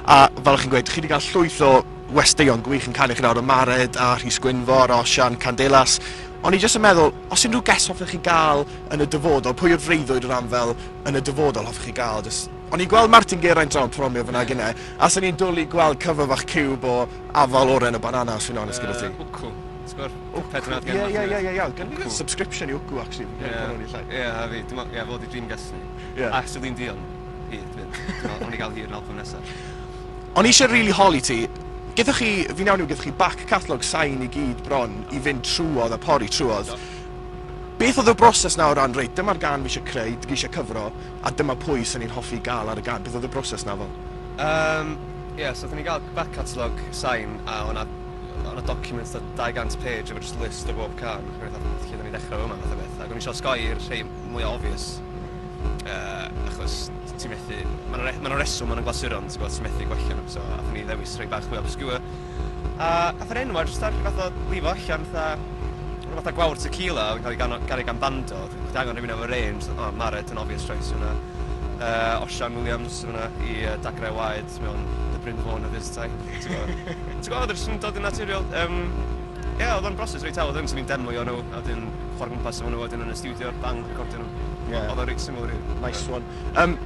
A fel o'ch chi'n gweud, chi wedi cael llwyth o westeion gwych yn canu chi nawr, y Mared a Rhys Gwynfor, Osian, Candelas. O'n i jyst yn meddwl, os unrhyw ges hoffech chi gael yn y dyfodol, pwy yw'r freuddwyd o ran fel yn y dyfodol hoffech chi gael? Just... O'n i'n gweld Martin Geraint draw yn promio fyna ac yna, a sy'n ni'n dwlu gweld cyfan fach ciwb o afal oren o banana, os fi'n onest gyda ti. Uh, wcw. Wcw, ie, ie, ie, ie, iawn. Gan mi subscription i wcw, actually. Ie, ie, a fi. Ie, fod i dream gas ni. Ie. Ac sy'n ni'n dion. Hir, dwi ddim. Dwi me'wl nawn ni ga'l hir yn albwm nesa. O'n i eisiau rili holi ti. Gyda chi, fi'n iawn yw gyda chi back catalog sain i gyd bron i fynd trwodd a pori trwodd. Beth oedd y broses na o ran, reit, dyma'r gan fi eisiau creu, dwi eisiau cyfro, a dyma pwy sy'n ni'n hoffi gael ar y gan. Beth oedd y broses na fel? Um, ie, yeah, so oeddwn ni'n gael back catalog sain a o'na o'n a documents da 200 page efo just list o bob can. Ac o'n i fatha, lle da ni'n dechrau yma, fath o beth. Ac o'n i eisiau osgoi i'r rhai mwy obvious. uh, achos ti'n methu... Mae'n re, ma reswm maen nhw'n glasuron, ti'n gwybod, ti'n methu gwella nhw, so athyn ni ddewis rhai bach mwy obscure. A athyn ni enwau, jyst ar rhywbeth o lifo allan, fatha rhywbeth o gwawr tequila, oedd yn cael ei gario gan bando, chdi angen rhywun o'r range, o, oh, Maret yn obvious choice hwnna. Uh, Osian Williams hwnna i uh, dagrau waed mewn The Bryn Fawn of his time. Ti'n gwybod, oedd yn dod yn naturiol. Um, Ie, yeah, oedd o'n broses reit hawdd, o'n ni'n demlio nhw, a wedyn chwarae gwmpas efo nhw, wedyn yn y studio, bang, recordio nhw. Ie. Oedd o'n reit syml rili. Nice one. Um,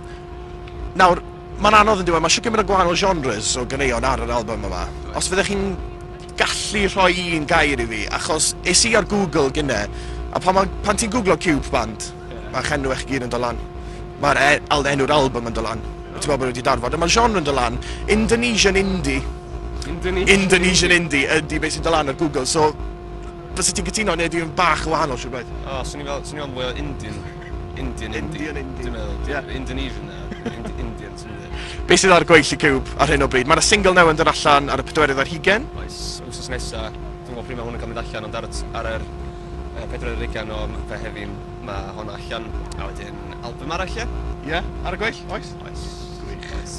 nawr, mae'n anodd yn diwedd, mae eisiau gymryd o gwahanol genres o ganeuon ar yr album yma. Os fyddech chi'n gallu rhoi un gair i fi, achos es i ar Google gynne, a pan, ma, pan ti'n googlo Cube Band, yeah. mae'ch enw eich gyd yn dolan. Mae'r e, al, enw'r album yn dolan. Yeah. Ti'n meddwl bod wedi darfod. Mae'r genre yn dolan. Indonesian Indie. Indonesian, Indonesian Indie. Indie, ydy beth sy'n dolan ar Google. So, Fysa ti'n cytuno neu ydy yn bach yn wahanol siwr braidd? O, swn i'n fel, swn i'n fel mwy o Indian. Indian, Indian. Indian, Indian. Dwi'n meddwl, yeah. Indonesian na, Ind Indian, ti'n meddwl. Be sydd ar gweill y ciwb ar hyn o bryd? Mae yna single newydd yn dod allan ar y pedwerydd ar hugen. Oes, wrsos nesa, dwi'n gwybod pryd mae hwn yn cael mynd allan, ond ar, ar yr uh, pedwerydd ar hugen o fe heddi, mae hwn allan, a wedyn album arall, ie? Yeah? Ie, yeah, ar y gweill, oes? Oes. Gwych. Oes.